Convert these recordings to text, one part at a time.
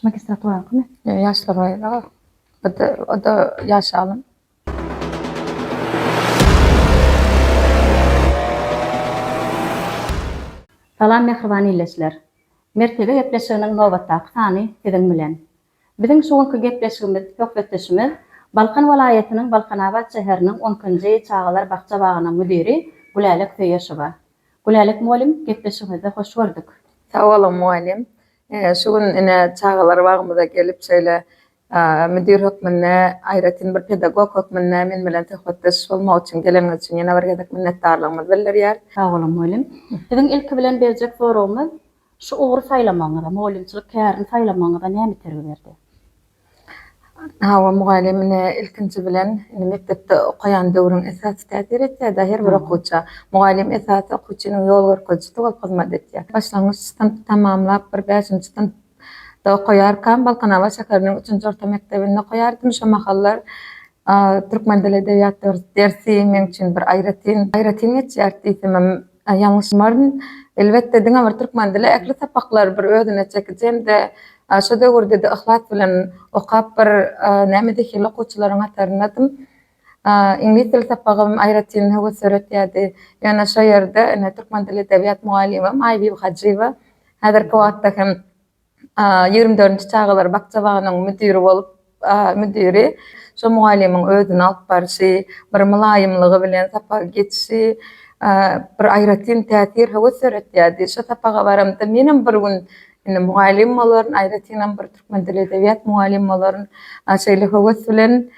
Şu magistratura kimi? Yo, yaşlar var ya. O da, o da yaş alın. Salam mehriban illeçiler. Mertebe gepleşiginiň nobatdaky sany siziň bilen. Biziň şu günki gepleşigimiz, söhbetdeşimiz Balkan welaýatynyň Balkanabat şäheriniň on ikinji çagalar bakja-bagynyň müdiri Gülälek Söýeşowa. Gülälek mugallym, gepleşigimize hoş gördük. Sag boluň mugallym. Şu gün ine çagalar bagymyza gelip şeýle müdir hökmünde, aýratyn bir pedagog hökmünde men bilen söhbetdeş bolmak üçin geleniňiz üçin ýene bir gezek minnetdarlygymyzy bildirýäris. Sag boluň mugallym. Biziň ilki bilen berjek soragymyz Şu ugry saýlamagyňyza, mugallymçylyk kärini saýlamagyňyza näme itergi berdi? Hawa, mugallym ine, ilkinji bilen, indi mekdepde okaýan döwrüň esasy täsir etýär-dä her bir okuwça. Mugallym esasy okuwçynyň ýol görkezijisi bolup hyzmat etýär. Başlangyç synpy tamamlap, bir bäşinji synpda okaýarkam, Balkanabat şäheriniň üçünji orta mekdebinde okaýardym. Şo mahallar türkmen dili-edebiýat dersi meň üçin bir aýratyn, aýratyn geçýärdi diýsemem, Ýalňyşmaryn, elbetde, diňe bir türkmen dili ähli sapaklary bir özüne çekiji hem-de şo döwürde-de yhlas bilen okap bir näme zehinli okuwçylaryň hataryndadym. Iňlis dili sapagym aýratyn höwes döretýärdi. Ýöne şo ýerde ine türkmen dili edebiýat mugallymym Aýbibi Hajyýewa häzirki wagtda hem ýigrimi dördünji çagalar bakjabagynyň müdiri bolup, müdiri şo mugallymyň özüni alyp barşy, bir mylaýymlygy bilen sapagy geçişi bir aýratyn täsir, höwes döretýärdi. Şo sapaga baramda menem bir gün indi mugallym bolaryn, aýratynam bir türkmen dili-edebiýat mugallym bolaryn, şeýle höwes bilen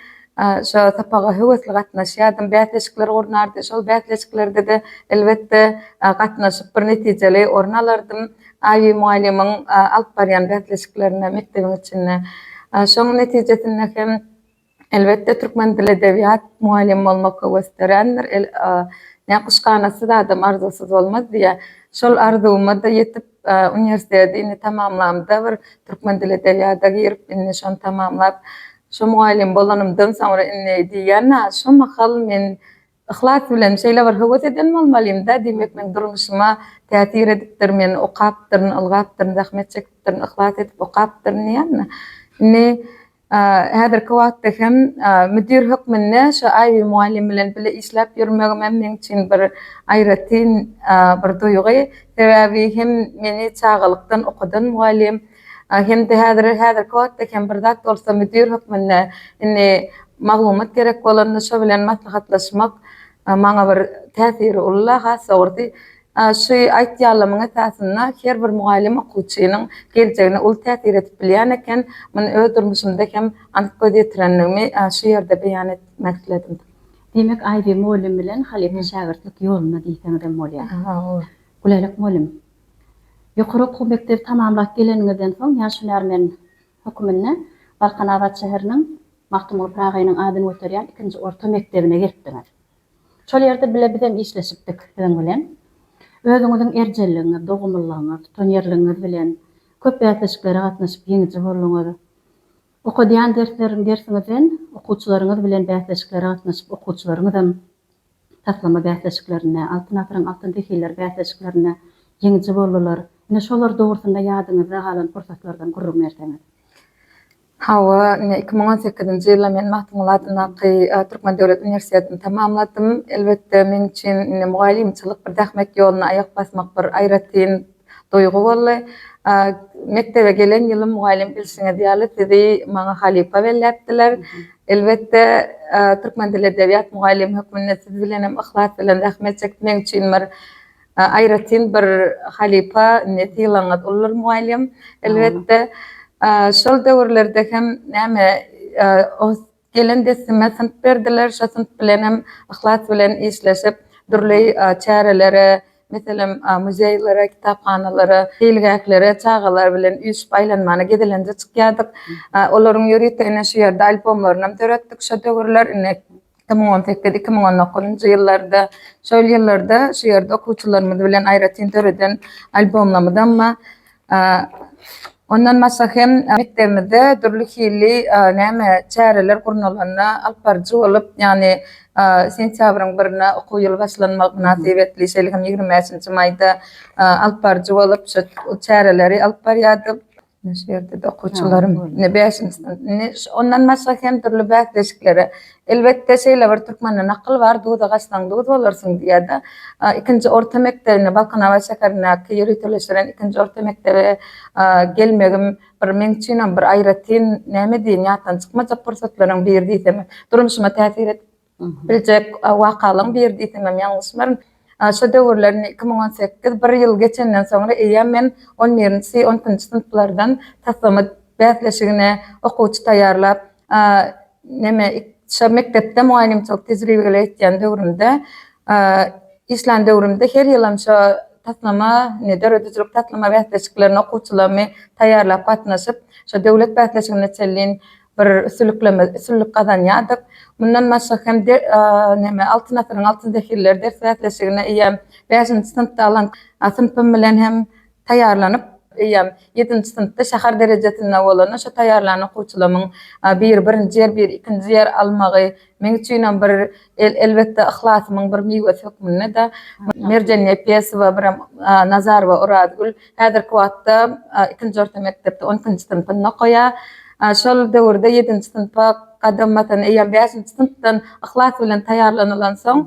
Şo sapaga höwesli gatnaşýardym. Bäsleşikler gurnardy. Şol bäsleşiklerde-de, elbetde, gatnaşyp, bir netijeli orun alardym. Aýy mugallymyň alyp barýan bäsleşiklerine mekdebiň içinde. Şoň netijesinde hem, elbetde, türkmen dili, edebiýat mugallymy bolmak höweslendirendir. Näkuşganatsy zadam arzuwsyz bolmaz diýýär. Şol arzuwyma-da ýetip, Uniwersiteti indi tamamlamda bir türkmen dil edebiýada girip indi şony tamamlap şu mugallym bolanymdan soňra indi diýýän şu mahal men yhlas bilen şeýle bir höwes eden bolmalymda diýmek meň durmuşyma täsir edipdir men okapdyryn ylgapdyryn zähmet çekipdirin yhlas edip okapdyryn diýýän indi Häzirki wagtda hem müdir hökmünde şu Aýbi mugallym bilen bile işläp ýörmegim hem meň üçin bir aýratyn bir duýgy. Sebäbi hem meni çagalykdan okadan mugallym, hem-de häzir, häzirki wagtda hem bir zat bolsa müdir hökmünde indi maglumat gerek bolanda şo bilen maslahatlaşmak maňa bir täsiri ulla, has dogrusy Şu aýtýanlamyň esasynda her bir mugallym okuwçynyň geljegine uly täsir edip bilýän eken. Muny öz durmuşymda hem anyk göz ýetirendigimi şu ýerde beýan etmek isledim. Diýmek, Aýbir mugallym bilen halypa şägirtlik ýolunda diýseňizem bolýar. Gulaýlyk mugallym, ýokary okuw mekdebi tamamlap geleniňizden soň ýaş hünärmen höküminde Balkanabat şäheriniň Magtymguly Pyragynyň adyny göterýän ikinji orta mekdebine gelipdiňiz. Şol ýerde bile biz hem işleşipdik siziň bilen. Özüňiziň erjelligiňiz, dogumlylygyňyz, tutanýerligiňiz bilen köp bäsleşiklere gatnaşyp ýeňiji bolduňyz. Okadýan dersleriň dersiňizden okuwçylaryňyz bilen bäsleşiklere gatnaşyp okuwçylaryňyzam taslama bäsleşiklerinde, Altyn asyryň altyn zehinleri bäsleşiklerinde ýeňiji boldular. Ine şolar dogrusynda ýadyňyzda galan pursatlardan gürrüň berseňiz. Hawa, ine, iki müň on sekizinji ýylda men Magtymguly adyndaky Türkmen döwlet uniwersitetini tamamladym. Elbetde, meň üçin indi mugallymçylyk bir zähmet ýoluna aýak basmak bir aýratyn duýgy boldy. Mekdebe gelen ýylym mugallym bilşiňiz ýaly sizi maňa halypa belläpdiler. Elbetde, türkmen dil-edebiýat mugallymy hökmünde siz bilenem yhlas bilen zähmet çekdim. Meň üçin bir Aýratyn bir halypa indi sylaňyz Ulur mugallym. Elbetde, şol döwürlerde hem näme gelen deslime synp berdiler, şo synp bilen hem yhlas bilen işleşip, dürli çärelere, meselem, muzeýlere, kitaphanalara, seýilgählere çagalar bilen üýşüp aýlanmana gezelenje çykýardyk. Olaryň ýörite ine şu ýerde albomlarynam döretdik şo döwürler. Ine, iki müň on sekiz, iki müň on dokuzynjy ýyllarda, şol ýyllarda şu ýerde okuwçylarymyz bilen aýratyn döreden albomlamyzam bar. Ondan başga hem mekdebimizde dürli hili näme çäreler gurnalanda alyp baryjy bolup, ýagny sentýabryň birine okuw ýyly başlanmagy mynasybetli, şeýle hem ýigrimi bäşinji maýda alyp baryjy bolup, şu çäreleri alyp barýardyk. Ine şu ýerde-de okuwçylarym, ine bäşinji synp, ine ondan başga hem dürli bäsleşiklere, elbetde şeýle bir türkmende nakyl bar, Duza gaçsaň duz bolarsyň diýýärdi. Ikinji orta mekdebine, Balkanabat şäherindäki ýöriteleşdiren ikinji orta mekdebe gelmegim bir meň üçinem bir aýratyn näme diýiň ýatdan çykmajak pursatlaryň biri diýsemem durmuşyma täsir edip, Biljek wakalaň biri diýsemem ýalňyşmaryn. Şo döwürler iki müň on sekiz bir ýyl geçenden soňra eýýäm men on birinji, on ikinji synplardan taslama bäsleşigine okuwçy taýýarlap, neme, şo mekdepde mugallymçylyk tejribeli etýän döwrümde, işlän döwrümde her ýylam şo taslama, döredijilik taslama bäsleşiklerine okuwçylarymy taýýarlap gatnaşyp, şo döwlet bäsleşigine çenli bir üstülikleme üstünlik gazanýardyk. Mundan başga hem de neme Altyn asyryň altyn zehirleri ders bäsleşigine eýýäm bäşinji synpda alan synpym bilen hem taýýarlanyp, eýýäm ýedinji synpda şäher derejesinde bolanda şo taýýarlan okuwçylarymyň biri birinji ýer, biri ikinji ýer almagy Meň üçinem bir elbetde yhlasymyň bir miwesi hökmünde-de Merjen Nepesowa birem Nazarowa Orazgül häzirki wagtda ikinji orta mekdepde on ikinji synpynda okaýar. Şol döwürde ýedinji synpa gadam basan eýýäm bäşinji synpdan yhlas bilen taýýarlanylansoň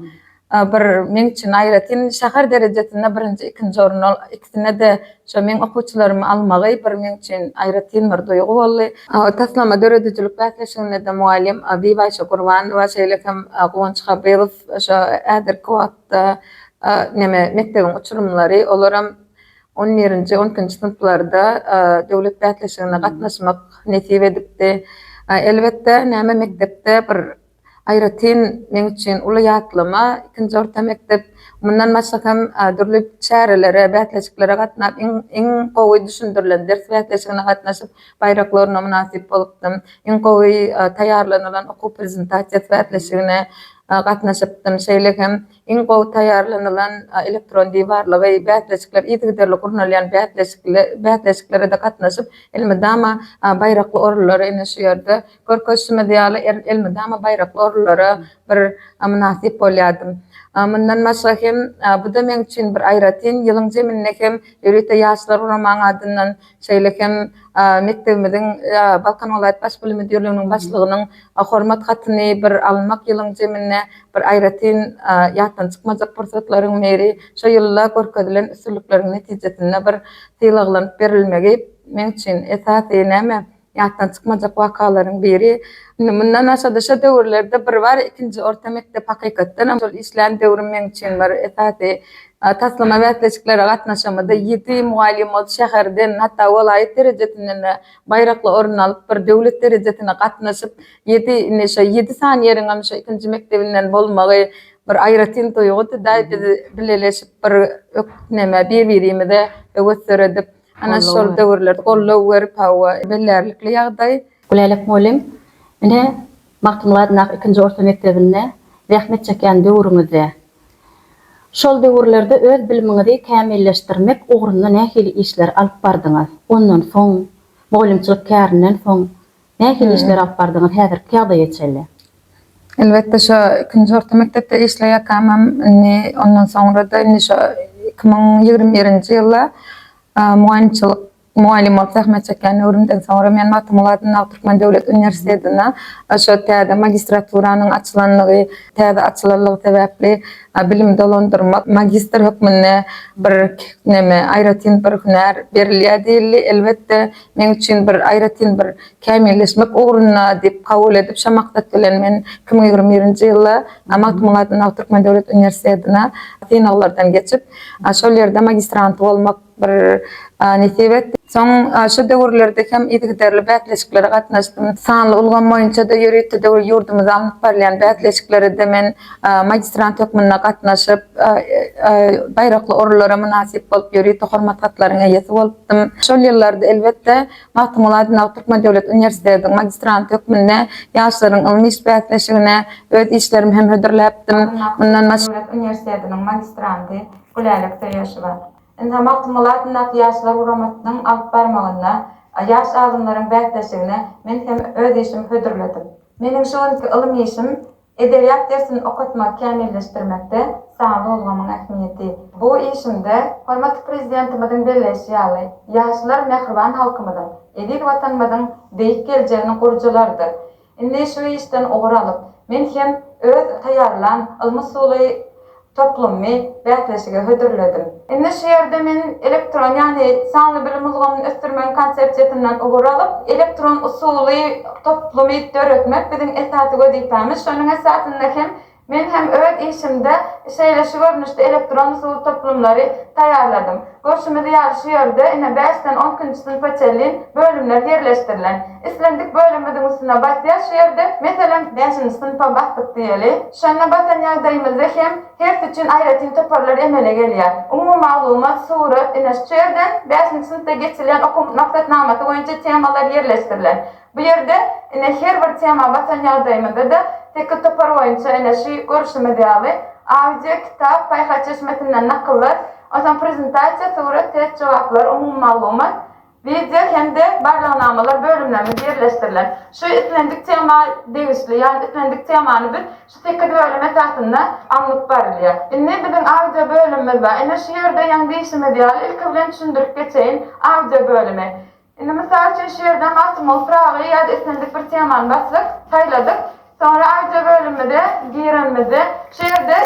Bir meň üçin aýratyn şäher derejesinde birinji, ikinji orun ol ikisine-de şo meň okuwçylarymy almagy bir meň üçin aýratyn bir duýgy boldy. Taslama döredijilik bäsleşiginde-de mugallym Bibaýşa Gurbanowa, şeýle hem Guwanç Habylow şo häzirki wagtda neme mekdebiň uçurymlary olaram on birinji, on ikinji synplarda döwlet bäsleşigine gatnaşmak nesip edipdi. Elbetde näme mekdepde bir Aýratyn meň üçin uly ýatlama, ikinji orta mekdep. Mundan başga hem dürli çärelere, bäsleşiklere gatnap, iň gowy düşündirilen ders bäsleşigine gatnaşyp, baýrak loruna mynasyp bolupdym. Iň gowy taýýarlanylan okuw prezentasiýasy bäsleşigine gatnaşypdym. Şeýle hem iň gowy taýýarlanylan elektron diwarlygy, bäsleşikler yzygiderli gurnalýan bäsleşiklere-de gatnaşyp, elmydama baýrakly orunlary ine şu ýerde Görkezişimiz ýaly, elmydama baýrakly orunlara bir mynasyp bolýardym. Mundan başga hem, bu-da meň üçin bir aýratyn, ýylyň jeminde hem ýörite Ýaşlar guramanyň adyndan, şeýle hem mekdebimiziň Balkan welaýat Baş bilim müdirliginiň başlygynyň Hormat hatyny bir almak ýylyň jeminde bir aýratyn ýatdan çykmajak pursatlaryň biri. Şo ýylda görkezilen üstünlikleriň netijesinde bir sylaglanyp berilmegi meň üçin esasy näme? Ýatdan çykmajak wakalaryň biri, indi mundan aşa-da şo döwürlerde bir bar, ikinji orta mekdep hakykatdanam şol işlän döwrüm meň üçin bir esasy taslama bäsleşiklere gatnaşamyda ýedi mugallym ol şäherden, hatda welaýat derejesinden-de baýrakly orun alyp, bir döwlet derejesine gatnaşyp, ýedi, indi şo ýedi sany ýeriňem şo ikinji mekdebinden bolmagy bir aýratyn duýgudy-da, biz bileleşip bir öküp, näme, bir-birimize höwes döredip, Ana şol döwürlerde goldaw berip hawa, bellärlikli ýagdaý. Gülälek mugallym, Ine, Magtymguladyndaky ikinji orta mekdebinde zähmet çekýän döwrüňizde, şol döwürlerde öz bilimiňizi kämilleşdirmek ugrunda nähili işleri alyp bardyňyz? Ondan soň, mugallymçylyk kärinden soň Nähili işler alyp bardyňyz häzirki ýagdaýa çenli? Elbetde şo ikinji orta mekdepde işleýärkämem indi ondan soňrada indi şo iki müň ýigrimi birinji ýylda mugaýymçylyk mugallym bolup zähmet çekýän döwrümden soňra men Magtymguly adyndaky Türkmen döwlet uniwersitetinde şo täze magistraturanyň açylanlygy täze açylanlygy sebäpli bilimi dolandyrmak magistr hökmünde bir neme aýratyn bir hünär berilýär diýildi elbetde Meň üçin bir aýratyn bir kämilleşmek ugrunda diýip kabul edip, şo maksat bilen men iki müň ýigrimi birinji ýylda Magtymguly adyndaky Türkmen döwlet uniwersitetine synaglardan geçip, şol ýerde magistranty bolmak bir nesip etdi. Soň şo döwürlerde hem yzygiderli bäsleşiklere gatnaşdym. Sanly ulgam boýunça-da, ýörite döwür ýurdumyzda alnyp barylýan bäsleşiklere-de men magistrant hökmünde gatnaşyp, baýrakly orunlara mynasyp bolup, ýörite hormat hatlaryň eýesi bolupdym. Şol ýyllarda, elbetde, Magtymguly Aýdynow Türkmen döwlet uniwersitetiniň magistranty hökmünde ýaşlaryň ylmy iş bäsleşigine öz işlerimi hem hödürläpdim. Mundan başga. Döwlet uniwersitetiniň magistranty Gülälek Söýeşowa. Ynha, Magtymguly adyndaky Ýaşlar guramasynyň alyp barmagynda ýaş alymlaryň bäsleşigine men hem öz işimi hödürledim. Meniň şu günki ylym işim Edebiýat dersini okatmagy kämilleşdirmekde sanly ulgamyň ähmiýeti. Bu işimde, hormatly Prezidentimiziň belleýşi ýaly, ýaşlar mähriban halkymyzyň, eziz Watanymyzyň beýik geljeginiň gurujylarydyr. Indi şu işden ugur alyp, men hem öz taýýarlan ylmy-usuly Toplumy bäsleşige hödürledim. Indi şu ýerde men elektron, ýagny sanly bilim ulgamyny ösdürmegiň konsepsiýasyndan ugur alyp, elektron usuly toplumy döretmek biziň esasy wezipämiz. Şonuň esasynda hem men hem öz işimde şeýle şu görnüşde elektron usul toplumlary taýýarladym. Görşümiz ýaly şu ýerde ine bäşden on ikinji synpa çenli bölümler ýerleşdirilen. Islendik bölümimiziň üstüne basýas şu ýerde, meselem, bäşinji synpa basdyk diýeli. Şonda basan ýagdaýymyzda hem hersi üçin aýratyn toparlar emele gelýär. Umumy maglumat, surat, ine şu ýerden bäşinji synpda geçilýän okuw maksatnamasy boýunça temalar ýerleşdirilen. Bu ýerde, ine, her bir tema basan ýagdaýymyzda-da, teke topar boýunça, ine, şu görşümiz ýaly, audio, kitap, paýhas çeşmesinden nakyllar, onsoň prezentasiýa, surat, test jogaplar, umumy maglumat, wideo hem-de barlagnamalar bölümlerimiz ýerleşdirilen. Şu islendik tema degişli, ýagny islendik temany biz şu sekiz bölüm esasynda alnyp barylýar. Indi biziň audio bölümimiz bar. Ine, şu ýerde ýaňy diýşimiz ýaly, ilki bilen düşündirip geçeýin audio bölümi. Indi mysal üçin şu ýerde Magtymguly Pyragy ýa-da islendik bir temany basdyk, saýladyk. Soňra audio bölümimize girenimizde şu ýerde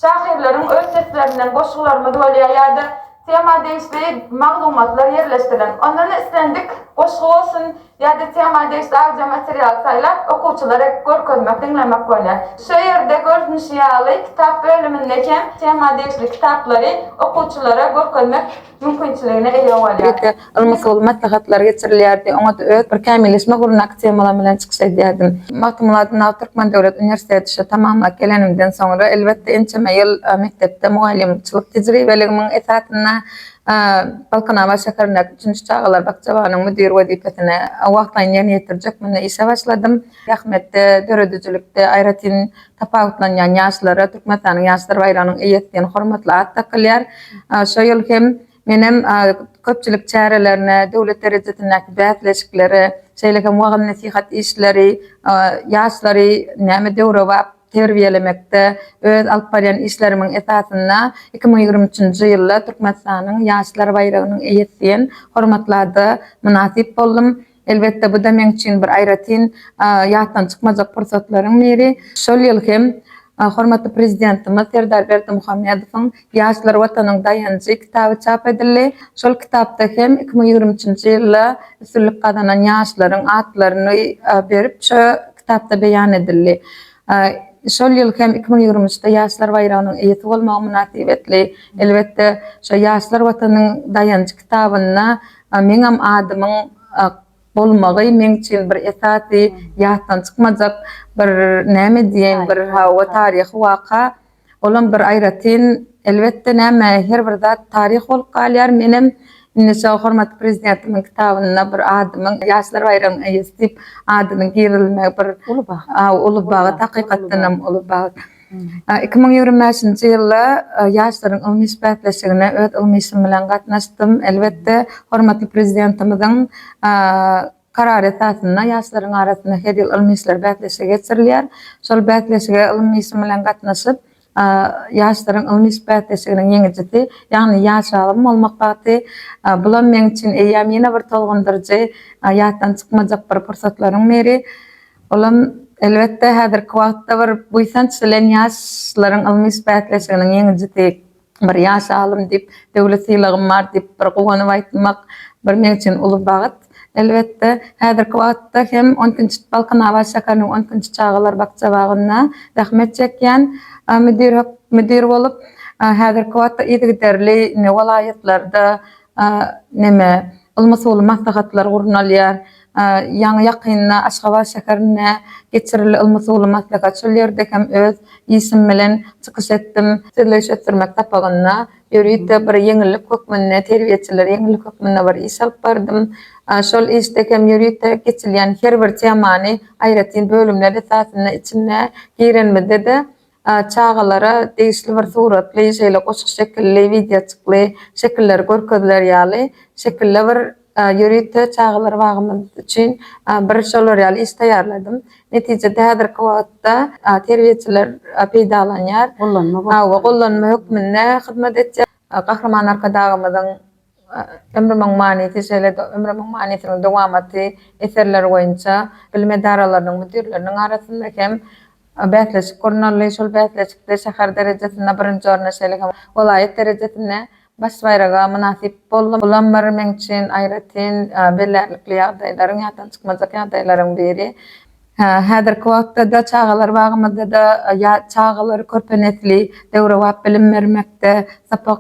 şahyrlaryň öz seslerinden goşgularymyz bolýar ýa-da tema degişli maglumatlar ýerleşdirilen. Ondan islendik goşgy bolsun ýa-da tema degişli audio material saýlap okuwçylara görkezmek, diňlemek bolýar. Şu ýerde görnüşi ýaly kitap bölüminde hem tema degişli kitaplary okuwçylara görkezmek, mümkinçiligine eýe bolýar. Ýeke, ylmy-usuly maslahatlar geçirilýärdi. Oňa-da öz bir kämilleşmek ugrundaky temalarym bilen çykyş edýärdim. Magtymguly Nal Türkmen döwlet uniwersiteti şa tamamlap gelenimden soňra, elbetde, ençeme ýyl mekdepde mugallymçylyk tejribeligimiň esasynda Balkanabat şäherindäki üçünji çagalar bakjabanyň müdiri wezipesine wagtlaýyn ýerine ýetirjek munda işe başladym. Zähmetde, döredijilikde, aýratyn Tapawutlanýan ýaşlara Türkmenistanyň Ýaşlar baýragynyň eýesi diýen hormatly at dakylýar. Şo ýyl hem menem köpçülik çärelerine, döwlet derejesindäki bäsleşiklere, şeýle hem wagyz-nesihat işleri, ýaşlary näme döwrebap terbiýelemekde öz alyp barýan işlerimiň esasynda iki müň ýigrimi üçünji ýylda Türkmenistanyň Ýaşlar baýragynyň eýesi diýen hormatly ada mynasyp boldum. Elbetde, bu-da meň üçin bir aýratyn ýatdan çykmajak pursatlaryň biri. Şol ýyl hem hormatly Prezidentimiz Serdar Berdimuhamedowyň Ýaşlar, Watanyň daýanjy kitaby çap edildi. Şol kitapda hem iki müň ýigrimi üçünji ýylda üstünlik gazanan ýaşlaryň atlaryny berip, şu kitapda beýan edildi. Şol ýyl hem iki müň ýigrimi üçde Ýaşlar baýragynyň eýesi bolmagym mynasybetli, elbetde, şo Ýaşlar, Watanyň daýanjy kitabynda, Meňem adymyň bolmagy meň üçin bir esasy ýatdan çykmajak bir näme diýeýin bir hawa taryhy waka. Olam bir aýratyn elbetde näme her bir zat taryh bolup galýar. Menem indi şo hormatly prezidentimiň kitabynda bir adymyň ýaşlar baýragynyň eýesi diýip adynyň girizilmegi bir uly bagt hakykatdanam uly bagt. Iki müň ýigrimi bäşinji ýylda ýaşlaryň ylmy iş bäsleşigine öz ylmy işim bilen gatnaşdym. Elbetde, hormatly Prezidentimiziň Karary esasynda ýaşlaryň arasynda her ýyl ylmy işler bäsleşigi geçirilýär. Şol bäsleşige ylmy işim bilen gatnaşyp, ýaşlaryň ylmy iş bäsleşiginiň ýeňijisi, ýagny ýaş alym bolmak bagty, bulam meň üçin eýýäm ýene bir tolgundyryjy, ýatdan çykmajak bir pursatlaryň biri. Olam, elbetde, häzirki wagtda bir buýsanç bilen ýaşlaryň ylmy bäsleşiginiň ýeňijisi, bir ýaş alym diýip, döwlet sylagym bar diýip, bir guwanyp aýtmak bir men üçin uly bagt. Elbetde, häzirki wagtda hem on ikinji Balkanabat şäheriniň on ikinji çagalar bakjabagynda zähmet çekýän müdir müdir bolup, häzirki wagtda yzygiderli ine welaýatlarda neme ylmy-usuly maslahatlar gurnalýar. Ýaňy ýakynda Aşgabat şäherinde geçirildi ylmy-suwly maslahat şol ýerde hem öz işim bilen çykyş etdim. Sözleýiş ösdürmek sapagynda ýörite bir ýeňillik hökmünde, terbiýeçilere ýeňillik hökmünde bir iş alyp bardym. Şol işde hem ýörite geçilýän her bir temany aýratyn bölümler esasynda içinde girenimizde-de Çagalara degişli bir suratly, şeýle goşgy şekilli, wideoçykly şekiller görkeziler ýaly, şekilli bir ýörite çagalar bagymyz üçin bir şolar ýaly iş taýýarladym. Netijede häzirki wagtda terbiýeçiler peýdalanýar. Gollanma gollanma hökmünde hyzmat etýär. Gahryman Arkadagymyzyň Ömrümiň manysy, şeýle-de Ömrümiň manysynyň dowamaty eserleri boýunça bilim edaralarynyň müdirleriniň arasynda hem bäsleşik gurnaldy. Şol bäsleşikde şäher derejesinde birinji orna, şeýle hem welaýat derejesinde baş baýraga mynasyp boldum. Bulam bir meň üçin aýratyn belärlikli ýagdaýlaryň, ýatdan çykmajak ýagdaýlaryň biri. Häzirki wagtda-da çagalar bagymyzda-da çagalar, körpe nesli döwrebap bilim bermekde, sapak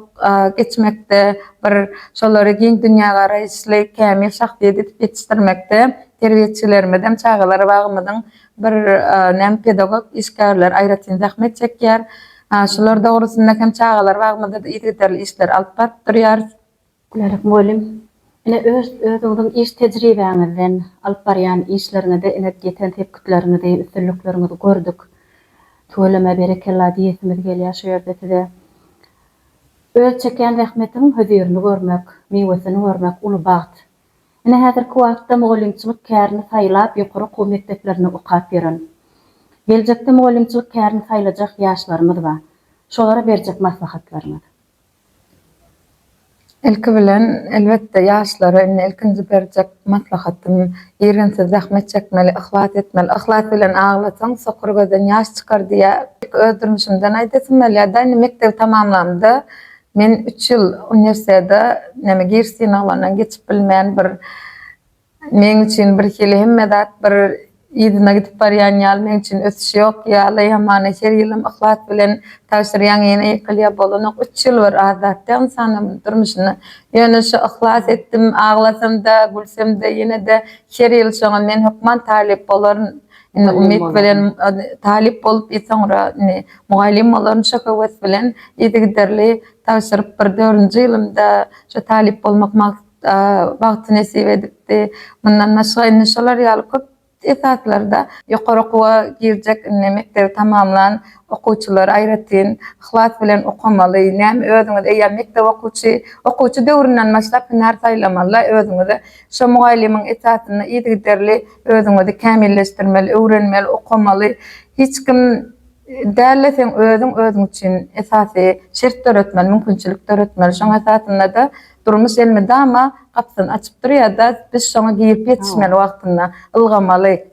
geçmekde, bir şolary giň dünýägaraýyşly, kämil şahsyýet edip ýetişdirmekde terbiýeçilerimiz hem çagalar bagymyzyň bir näm pedagog işgärleri aýratyn zähmet çekýär. Şular dogrusynda hem çagalar bagymyzda-da yzygiderli işleri alyp baryp durýarys. Gülerek mugallym, ine öz özüňiziň iş tejribäňizden, alyp barýan işleriňizde ine ýeten sepgitleriňizi, üstünlikleriňizi gördük. Tüweleme berekella diýesimiz gelýär şu ýerde size. Öz çekýän zähmetiň hözirini görmek, miwesini görmek uly bagt. Ine häzirki wagtda mugallymçylyk kärini saýlap ýokary okuw mekdeplerinde okap ýören, geljekde mugallymçylyk kärini saýlajak ýaşlarymyz bar. Şolara berjek maslahatlaryňyz? Ilki bilen, elbetde, ýaşlara indi ilkinji berjek maslahatym, irginsiz zähmet çekmeli, yhlas etmeli. Yhlas bilen aglasaň, sokur gözden ýaş çykar diýýär. Ilki öz durmuşymdan aýdasym gelýär-de, indi mekdebi tamamlamda men üç ýyl uniwersitete, näme giriş synaglaryndan geçip bilmän, bir Meň üçin birhili hemme zat bir yzyna gidip barýan ýaly meň üçin ösüş ýok ýaly hamana her ýylym yhlas bilen tabşyrýaň ýene ýykylýa bolanok üç ýyl bir az zat däl ynsanlarmyň durmuşynda ýöne şu yhlas etdim aglasamda gülsemde ýenede her ýyl şoňa men hökman talyp bolaryn indi umyt bilen talyp bolup ýa soňra indi mugallym bolaryn şo höwes bilen yzygiderli tabşyryp bir dördünji ýylymda şo talyp bolmak bagty nesip edipdi. Mundan başga indi şolar ýaly köp esaslarda ýokary okuwa girjek indi mekdebi tamamlan okuwçylar aýratyn yhlas bilen okamaly. Näme özüňiz eýýäm mekdep okuwçy, okuwçy döwründen başlap hünär saýlamaly özüňize. Şo mugallymyň esasynda yzygiderli özüňizi kämilleşdirmeli, öwrenmeli, okamaly. Hiç kim däl-de seň özüň özüň üçin esasy şert döretmeli, mümkinçilik döretmeli. Şoň esasynda-da Durmuş elmydama gapysyny açyp durýar-da, biz şoňa girip ýetişmeli wagtynda, ylgamaly,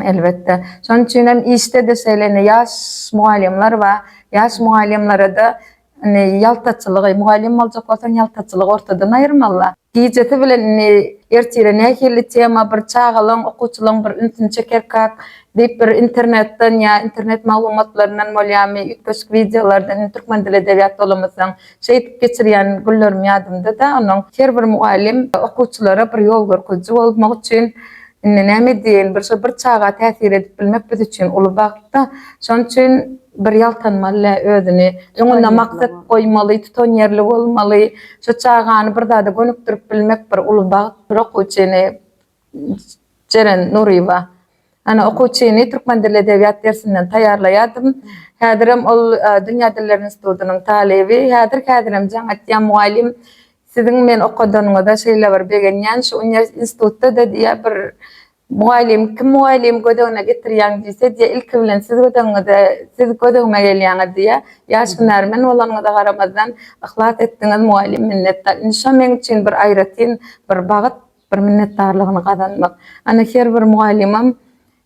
elbetde. Şonuň üçin hem işde-de şeýle indi ýaş mugallymlar bar. Ýaş mugallymlara-da indi ýaltaçylygy, mugallym boljak bolsaň, ýaltaçylygy ortadan aýyrmaly-da. Gijesi bilen indi ertire nähili tema bir çagalaryň, okuwçylaryň bir ünsüni çekerkak diýip bir internetden ýa internet maglumatlaryndan bolýamy, üýtgeşik wideolardan, indi türkmen dili-edebiýat dolamasaň, Şeýdip geçirýän günlerim ýadymda-da, ondan her bir mugallym okuwçylara bir ýol görkeziji bolmak üçin, Indi näme edýäýin, bir şo bir çaga täsir edip bilmek biz üçin uly bagt-da, şonuň üçin bir ýaltanmaly-le özüni, öňüne maksat goýmaly, tutanýerli bolmaly, şo çagany bir zada gönükdirip bilmek bir uly bagt, bir okuwçyny Jeren Nuryýewa. Ana, okuwçyny türkmen dili, edebiýat dersinden taýýarlaýardym. Häzirem ol Dünýä diller institutynyň talyby. Häzir-häzirem jaň atýan mugallym, Siziň men okadanyňyza şeýle bir begenýän, şu institutda-da diýýär, bir mugallym, kim mugallym gödegine getirýäň diýse, diýýär, ilki bilen siz gödegiňize, siz gödegime gelýäňiz diýýär. Ýaş hünärmen bolanyňyza garamazdan, yhlas etdiňiz mugallym, minnetdar. Indi şo meň üçin bir aýratyn bir bagt. Bir minnetdarlygyny gazanmak. Ana her bir mugallymam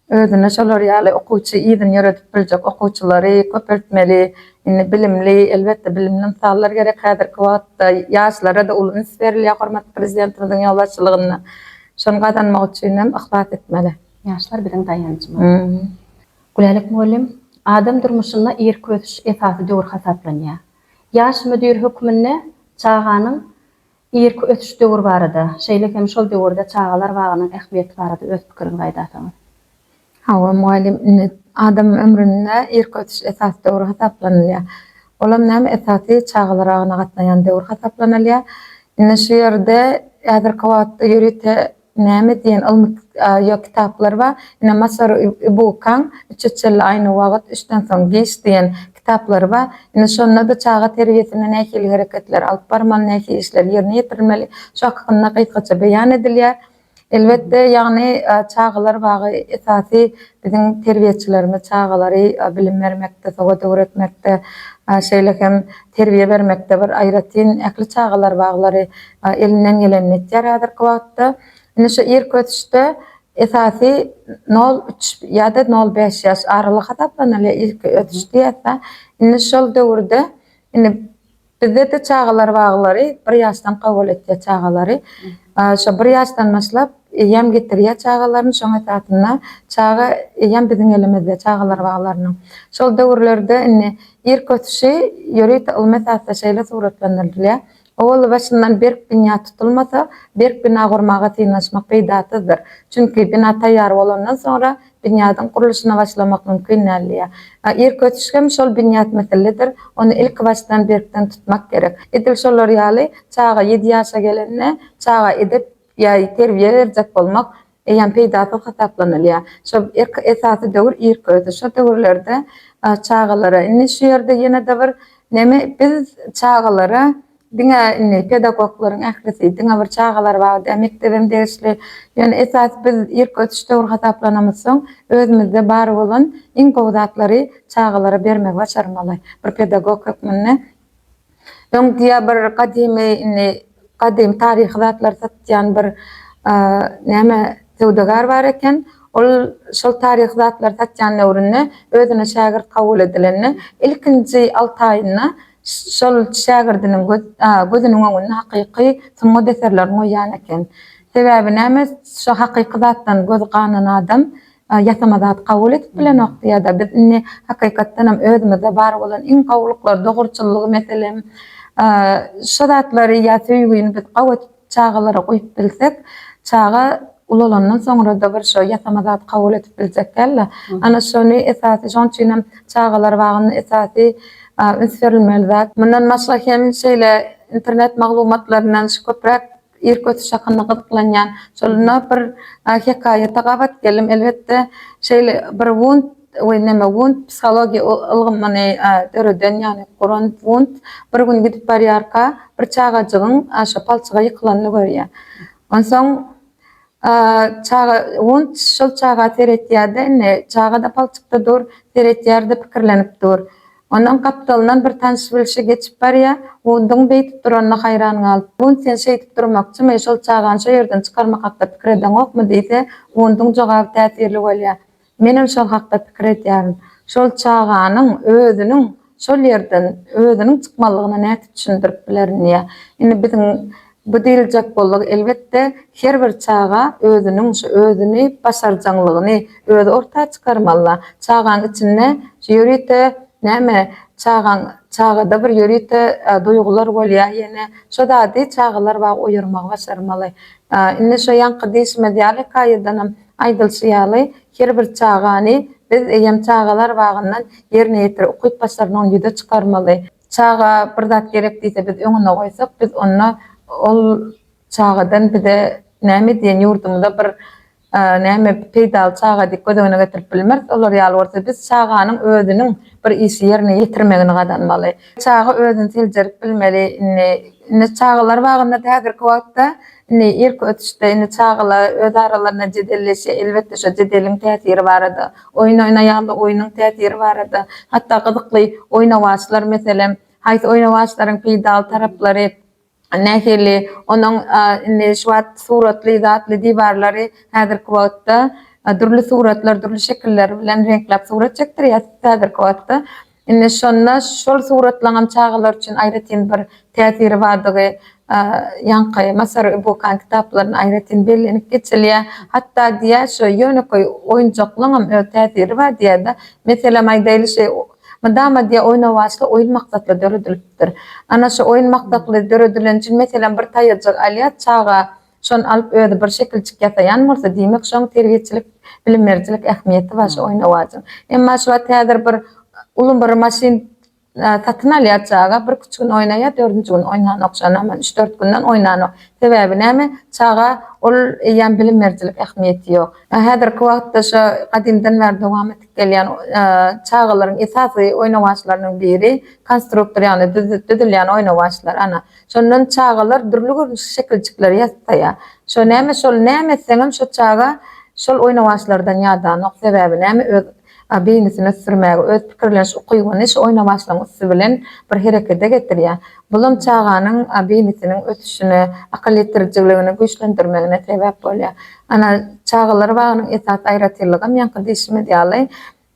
özüne şolar ýaly okuwçy yzyny ýöredip biljek okuwçylary köpeltmeli. Indi bilimli, elbetde bilimli ynsanlar gerek häzirki wagtda. Ýaşlara-da uly üns berilýär hormatly Prezidentimiziň ýolbaşçylygynda. Şony gazanmak üçinem yhlas etmeli. Ýaşlar biziň daýanjymyz. Gülälek mugallym, Adam durmuşynda irki ösüş esasy döwür hasaplanýar. Ýaş müdir hökmünde çaganyň Irki ösüş döwür barada, şeýle hem şol döwürde çagalar bagynyň ähmiýeti barada öz pikiriňizi aýdarsyňyz. Hawa, mugallym, indi adamyň ömründe irki ösüş esasy döwür hasaplanylýar. Olam näme, esasy çagalar bagyna gatnaýan döwür hasaplanylýar. Indi şu ýerde häzirki wagtda ýörite Näme diýen ylmy ýa kitaplar bar? Ine Masaru Ibukaň Üç eçelli aýna wagyt, üçden soň giç diýen kitaplary bar. Ine şonda-da çaga terbiýesinde nähili hereketleri alyp barmaly, nähili işleri ýerine ýetirilmeli, şu hakynda gysgaça beýan edilýär. Elbetde, ýagny çagalar bagy esasy Biziň terbiýeçilerimiz çagalary bilim bermekde, sowat öwretmekde, şeýle hem terbiýe bermekde bir aýratyn ähli çagalar baglary elinden gelenini etýär häzirki wagtda. Indi şu irki ösüşde esasy nol üç ýa-da nol bäş ýaş aralygy hasaplanylýar irki ösüş diýýäs-de. Indi şol döwürde indi Bizde-de çagalar baglary bir ýaşdan kabul etýär çagalary. Şo bir ýaşdan başlap eýýäm getirýär çagalaryny, şoň esasynda çaga eýýäm biziň elimizde çagalar baglarynyň. Şol döwürlerde indi irki ösüşi ýörite ylmy esasda şeýle suratlandyrylyar, Owal başyndan berk binýat tutulmasa, berk bina gurmaga synanyşmak peýdasyzdyr. Çünki bina taýýar bolandan soňra binýadyň gurluşyna başlamak mümkin däl diýýär. Irki ösüş hem şol binýat misillidir, ony ilkibaşdan berkden tutmak gerek. Edil şolar ýaly, çaga ýedi ýaşa gelende, çaga edep ýa terbiýe berjek bolmak eýýäm peýdasyz hasaplanylýar. Şo irki esasy döwür irki ösüş. Şo döwürlerde çagalara, indi şu ýerde ýene-de bir neme, biz çagalara Diňe indi pedagoglaryň ählisi diňe bir çagalar bagy däl, mekdebem degişli. Ýöne esas biz irki ösüş döwri hasaplanamyzsoň, özümizde bar bolan iň gowy zatlary çagalara bermegi başarmaly. Bir pedagog hökmünde. Öň diýýär bir gadymy indi gadymy taryhy zatlary satýan bir näme söwdagär bar eken. Ol şol taryhy zatlary satýan döwründe özüne şägirt kabul edilende ilkinji alty aýynda Şol şägirdiniň gözüniň öňünde hakyky sungat eserlerini goýýan eken. Sebäbi näme, şu hakyky zatdan gözi ganan adam ýasama zat kabul edip bilenokdy ýa-da biz indi hakykatdanam özümizde bar bolan iň gowulyklary, dogruçyllygy, meselem, şu zatlary ýa söýgini biz gabat Çagalara goýup bilsek çaga ulalandan soňrada bir şo ýasama zat kabul edip biljek däldi. Ana şony esasy şoň üçinem çagalar bagynda esasy üns berilmeli zat. Mundan başga hem şeýle internet maglumatlaryndan şu köpräk irki ösüş hakynda gyzyklanýan şolunda bir hekaýata gabat geldim elbetde şeýle bir wunt we näme Wundt psihologiýa ylgymyny döreden, ýagny guran Wundt bir gün gidip barýarka, bir çagajygyň şo palçyga ýykylanyny görýär. Onsoň çaga Wundt şol çaga seretýär-de, indi çaga-da palçykda dur, seretýär-de, pikirlenip dur. Onuň gapdalyndan bir tanyş-bilşi geçip barýar, Wundtyň beýdip duranyna haýran galyp, Wundt sen şeýdip durmakçymy, şol çagany şo ýerden çykarmak hakda pikir edeňokmy diýse, Wundtyň jogaby täsirli bolýar. Menem şol hakda pikir edýärin. Şol çaganyň özüniň şol ýerden özüniň çykmalygyna nädip düşündirip bilerin diýýä. Indi biziň bu diýiljek bolduk, elbetde, her bir çaga özüniň şu özüni başarjaňlygyny özi orta çykarmaly-da. Çagaň içinde şu ýörite näme, çagaň çagada bir ýörite duýgular bolýar, ýene şo zady çagalar wagt oýarmagy başarmaly. Indi şo ýaňky diýşimiz ýaly hekaýadanam Aýdylyşy ýaly, her bir çagany biz eýýäm çagalar bagyndan ýerine ýetirip, ukyp başarnygyny ýüze çykarmaly. Çaga bir zat gerek diýse, biz öňüne goýsak, biz onda ol çagadan bize näme diýen ýurdumyza bir näme peýdaly çaga diýip göz öňüne getirip bilmeris. Olar ýaly bolsa biz çaganyň özüniň bir işi ýerine ýetirmegini gazanmaly. Çaga özüni seljerip bilmeli indi. Indi çagalar bagyndada häzirki wagtda indi irki ösüşde indi çagalar öz aralarynda jedelleşýär. Elbetde şo jedeliň täsiri barada, oýun oýnaýarlar, oýnuň täsiri barada, hatda gyzykly oýnawaçlar meselem, haýsy oýnawaçlaryň peýdaly taraplary, nähili onuň indi şu wagt suratly zatly diwarlary häzirki wagtda dürli suratlar dürli şekiller bilen reňkläp surat çekdirýär häzirki wagtda indi şonda şol suratlaňam çagalar üçin aýratyn bir täsiri bardygy ýaňky masaru ibukan kitaplarynda aýratyn bellenip geçilýär hatda diýýär şu ýönekeý oýunjaklaňam öz täsiri bar diýýär-de meselem aýdaýly şeý Mydama diýe oýnawaçly oýun maksatly döredilipdir. Ana şu oýun maksatly döredilen üçin meselem bir taýajyk alýas çaga şony alyp özi bir şekilçik ýasaýan bolsa diýmek şoň terbiýeçilik bilim berijilik ähmiýeti bar şu oýnawacyň. Emma şu wagt häzir bir uly bir maşyn satyn alýas çaga bir üç gün oýnaýa dördünji gün oýnanok şony aman üç dört günden oýnanok sebäbi näme çaga ol eýýäm bilim berijilik ähmiýeti ýok. Häzirki wagtda şu gadymdan bäri dowam Gelýän çagalaryň esasy oýnawaçlarynyň biri konstruktor ýagny düzülýän oýnawaçlar ana. Şondan çagalar dürli görnüşli şekiljikleri ýasaýar. Şo näme şol näme etseňem şo çaga şol oýnawaçlardan ýadanok. Sebäbi näme öz beýnisini ösdürmäge öz pikirleniş ukybyny şu oýnawaçlaryň üsti bilen bir herekete getirýär. Bulam çaganyň beýnisiniň ösüşine akyl ýetirjiligini güýçlendirmegine sebäp bolýar. Ana çagalar bagynyň esasy aýratynlygam ýaňky diýşimiz ýaly,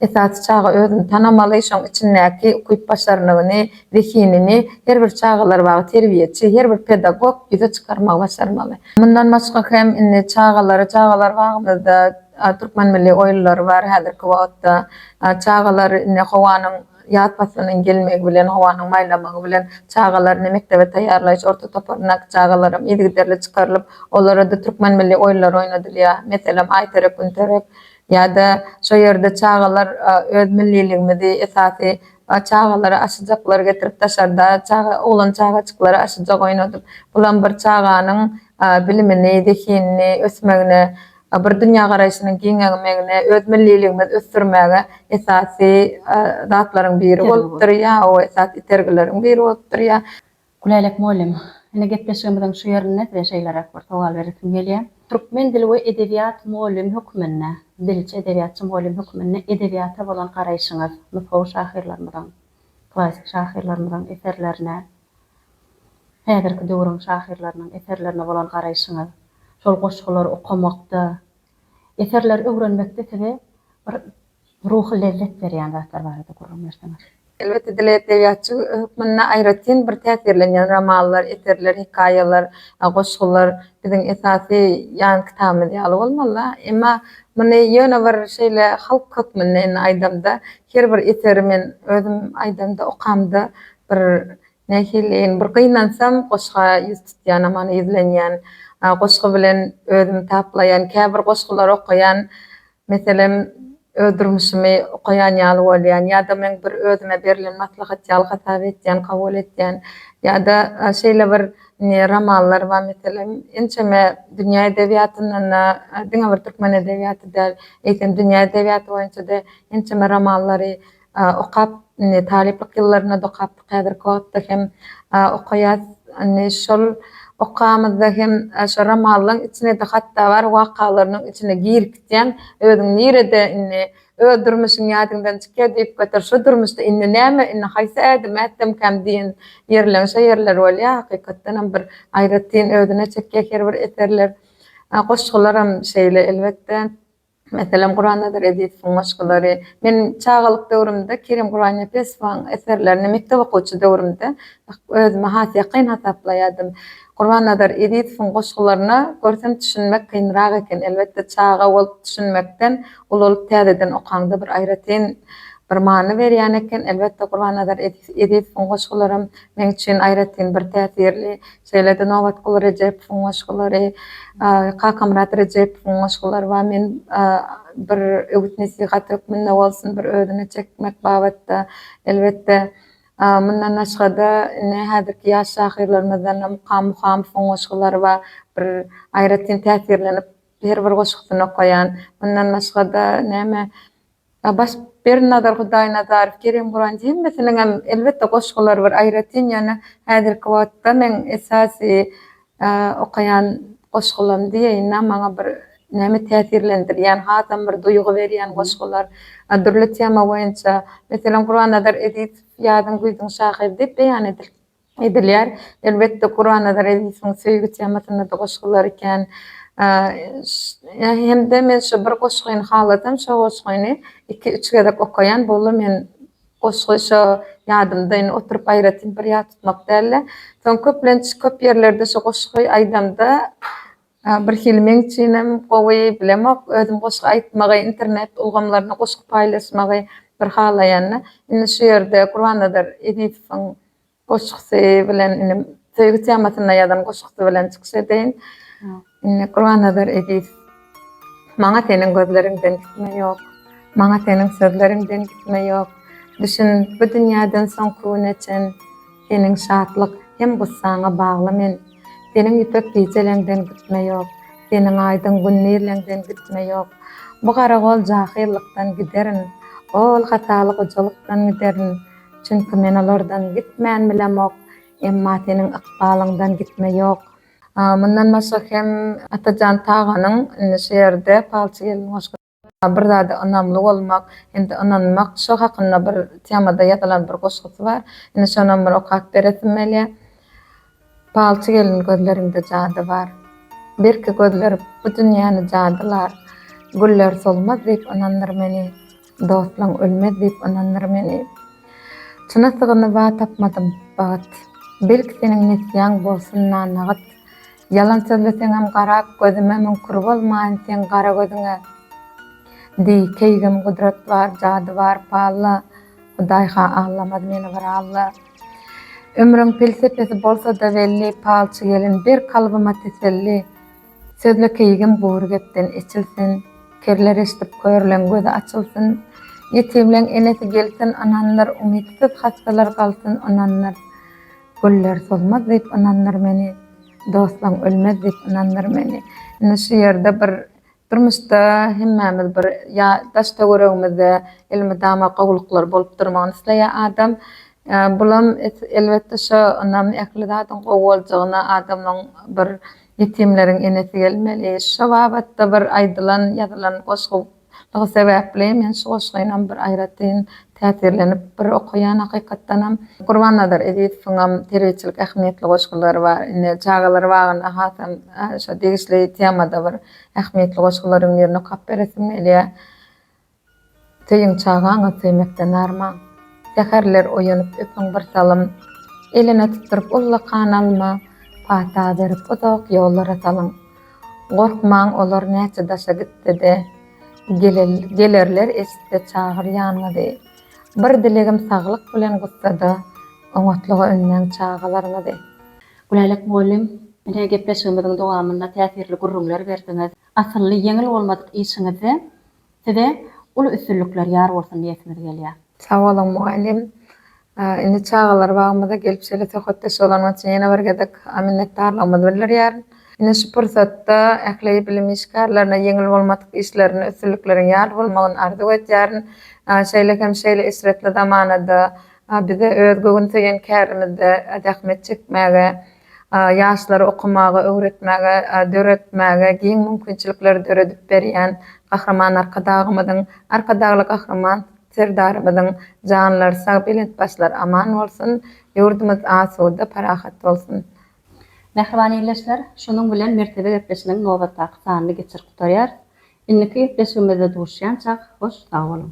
esasy çaga özüni tanamaly, şoň içindäki ukyp-başarnygyny, zehinini her bir çagalar bagy terbiýeçi, her bir pedagog ýüze çykarmagy başarmaly. Mundan başga hem indi çagalary çagalar bagymyzda Türkmen milli oýunlary bar häzirki wagtda. Çagalar indi howanyň. Ýaz paslynyň gelmegi bilen, howanyň maýlamagy bilen çagalaryny mekdebe taýýarlaýyş orta toparyndaky çagalaram yzygiderli çykarylyp, olara-da türkmen milli oýunlary oýnadylýar. Meselem, Aýterek-Güntörek ýa-da şo ýerde çagalar öz milliligimizi, esasy çagalara aşyjaklary getirip daşarda çaga, oglan çagajyklara aşyjak oýnadyp, bulam bir çaganyň bilimini, zehinini ösmegine we bir dünýägaraýşynyň giňegmegine, öz milliligimizi ösdürmäge esasy zatlaryň biri bolup durýar, o esasy itergileriň biri bolup durýar. Gülälek mugallym, indi gepleşigimiziň şu ýerinde size şeýleräk bir sowal beresim gelýär. Türkmen dili we edebiýat mugallymy hökmünde, dilçi, edebiýatçy mugallymy hökmünde edebiýata bolan garaýşyňyz, nusgawy şahyrlarymyzyň, klassyk şahyrlarymyzyň eserlerine, Häzirki döwrüň şahyrlarynyň eserlerine bolan garaýşyňyz, şol goşgulary okamakda, eserleri öwrenmekde size bir ruhy lezzet berýän zatlar barada gürrüň berseňiz? Elbetde, dile edebiýatçy hökmünde aýratyn bir täsirlenýän romanlar, eserler, hekaýalar, goşgular biziň esasy ýan kitabymyz ýaly bolmaly-da. Emma muny ýöne bir şeýle halk hökmünde indi aýdamda, Her bir eseri men özüm aýdamda, okamda bir nähiliin bir gynansam, goşga ýüz tutýanam, ony ýüzlenýän, goşgy bilen özümi taplaýan, käbir goşgulary okaýan, meselem, öz durmuşymy okaýan ýaly bolýan ýa-da meň bir özüme berlen maslahat ýaly hasap etýän, kabul etýän ýa-da şeýle bir indi romanlar bar, meselem, ençeme dünýä edebiýatyndan-da, diňe bir türkmen edebiýaty däl, eýsem, dünýä edebiýaty boýunça-da Ençeme romanlary okap, indi talyplyk ýyllarynda dokapdyk, häzirki wagtda hem okaýas. Indi şol okamyzda hem şo romanlaň içine-de hatda bar wakalarynyň içine girip gitýäň. Özüň nirede indi, öz durmuşyň ýadyňdan çykýar diýip göter, şo durmuşda indi näme, indi haýsy ädim ätsemkäm diýen ýerleň şo ýerleri bolýar. Hakykatdan hem bir aýratyn özüne çekýär her bir eserler. Goşgularam şeýle elbetde. Meselem, Gurannazar Ezizowyň goşgulary. Men çagalyk döwrümde Kerim Gurbannepesowyň eserlerini mekdep okuwçy döwrümde özüme has ýakyn hasaplaýardym. Gurbannazar Ezizowyň goşgularyna görsem düşünmek kynrak eken. Elbetde, çaga bolup düşünmekden, uly bolup täzeden okaňda bir aýratyn bir many berýän eken. Elbetde, Gurbannazar Ezizowyň goşgularam meň üçin aýratyn bir täsirli. Şeýle-de Nobatguly Rejepowyň goşgulary, Kakamyrat Rejepowyň goşgulary bar. Men bir öwüt-nesihat hökmünde bolsun, bir özüne çekmek babatda, elbetde, mundan başga-da ine häzirki ýaş şahyrlarymyzdan-da Mukam Muhamowyň goşgulary bar. Bir aýratyn täsirlenip, her bir goşgusyny okaýan. Mundan başga-da, näme, Abaş Bernazar Hudaýnazarow Kerem Guranji hemmesiniňem elbetde goşgulary bir aýratyn ýöne häzirki wagtda meň esasy okaýan goşgulam diýeýinä maňa bir näme täsirlendirýän hasam bir duýgy berýän goşgular dürli tema boýunça meselem Gurannazar Ezizow Ýazyň güýzüň şahyry diýip beýan edilip Edilýär. Elbetde Gurbanazar Ezisiň söýgi temasynda-da goşgy bar eken. Hem-de men şu bir goşgyny halasam, şo goşgyny iki-üç gezek okaýan. Boldy men goşgy şo ýadymda, indi oturyp aýratyn bir ýat tutmak däl-de. Soň köplenç köp ýerlerde şu goşgy aýdamda Birhili meň üçinem gowy, bilemok, özüm goşgy aýtmagy, internet ulgamlarynda goşgy paýlaşmagy bir halaýanda, indi şu ýerde Gurbannazar Ezizowyň goşgusy bilen indi söýgi temasynda ýazan goşgusy bilen çykyş edeýin. Indi Gurbannazar Ezizow. Maňa seniň gözleriňden gitme ýok, Maňa seniň sözleriňden gitme ýok, Düşün, bu dünýäden soňky güne çen, Seniň şatlyk hem gussaňa bagly men Seniň ýüpek gijeleňden gitme ýok Seniň aýdyň gün nirleňden gitme ýok Bu garagol jahyllykdan giderin Ol hataly gojalykdan giderin Çünki men olardan gitmän bilemok Emma seniň ykbalyňdan gitme ýok. Mundan başga hem Atajan Taganyň indi şu ýerde Palçy gelin goşgy. Bir zada ynamly bolmak hem-de ynanmak şo hakynda bir temada ýazylan bir goşgusy bar. Indi şonam bir okap beresim gelýä. Palçy gelin gözleriňde jady bar. Birki gözler bu dünýäni jadylar. Güller solmaz diýip ynandyr meni. Dostlaň ölmez diýip ynandyr meni. Çyna sygyny ba tapmadym, bagyt. Belki seniň nesýäň bolsun nanagyt. Ýalan sözleseňem garap gözüme Müň kür bolmaýyn seň gara gözüňe Diý, keýgim, gudrat bar, jady bar, palla, Hudaý-ha aglamaz meni bir alla. Ömrüň pelsepesi bolsa-da belli, Palçy gelin, ber kalbyma teselli, Sözle keýgim gury gepden eçilsin, Kerler eşdip, körleň gözi açylsyn, Ýetimleň enesi gelsin, ynandyr, Umytsyz hassalar galsyn, ynandyr. Güller solmaz diýip ynandyr meni, Dostlaň ölmez diýip ynandyr meni. Indi şu ýerde bir durmuşda hemmämiz bir ýa daş-töweregimizde elmydama gowulyklar bolup durmagyny isleýär adam. Bulam elbetde şo ynam ähli zadyň gowy boljagyna adamyň bir ýetimleriň enesi gelmeli. Şo babatda bir aýdylan, ýazylan goşgy Şonluk sebäpli men şu goşgynam bir aýratyn täsirlenip bir okaýan hakykatdanam. Gurbannazar Ezizowyňam terbiýeçilik ähmiýetli goşgulary bar. Indi çagalar bagyna hasam şo degişli temada bir ähmiýetli goşgularyň birini okap beresim gelýär. Söýüň çagaňy söýmekden arman. Säherler oýanyp öpüň bir salym. Eline tutduryp ullakan alma. Pata berip uzak ýollara salyň. Gorkmaň, olar näçe daşa gitse-de, gelerler, eşitse çagyr ýanyňyzy. Bir dilegim saglyk bilen gussada, oňatlyga ünmäň çagalaryňyzy. Gülälek mugallym, ine gepleşigimiziň dowamynda täsirli gürrüňler berdiňiz. Asylly ýeňil bolmadyk işiňizde Size uly üstünlikler ýar bolsun diýesimiz gelýär. Sag boluň mugallym. Indi çagalar bagymyza gelip şeýle söhbetdeş bolanyň üçin ýene bir gezek minnetdarlygymyzy bildirýärin. Ine şu pursatda ähli bilim işgärlerine ýeňil bolmadyk işlerinde üstünlikleriň ýar bolmagyny arzuw edýärin. Şeýle hem şeýle eşretli zamanada bize öz göwün söýen kärimizde zähmet çekmäge, ýaşlary okamaga, öwretmäge, döretmäge giň mümkinçilikleri döredip berýän Gahryman Arkadagymyzyň, Arkadagly Gahryman Serdarymyzyň janlary sag, belent başlary aman bolsun, ýurdumyz asuda, parahat bolsun! Mähriban ildeşler, şunuň bilen Mertebe gepleşiginiň nobatdaky sanyny geçirip gutarýarys. Indiki gepleşigimizde duşýança hoş sag boluň!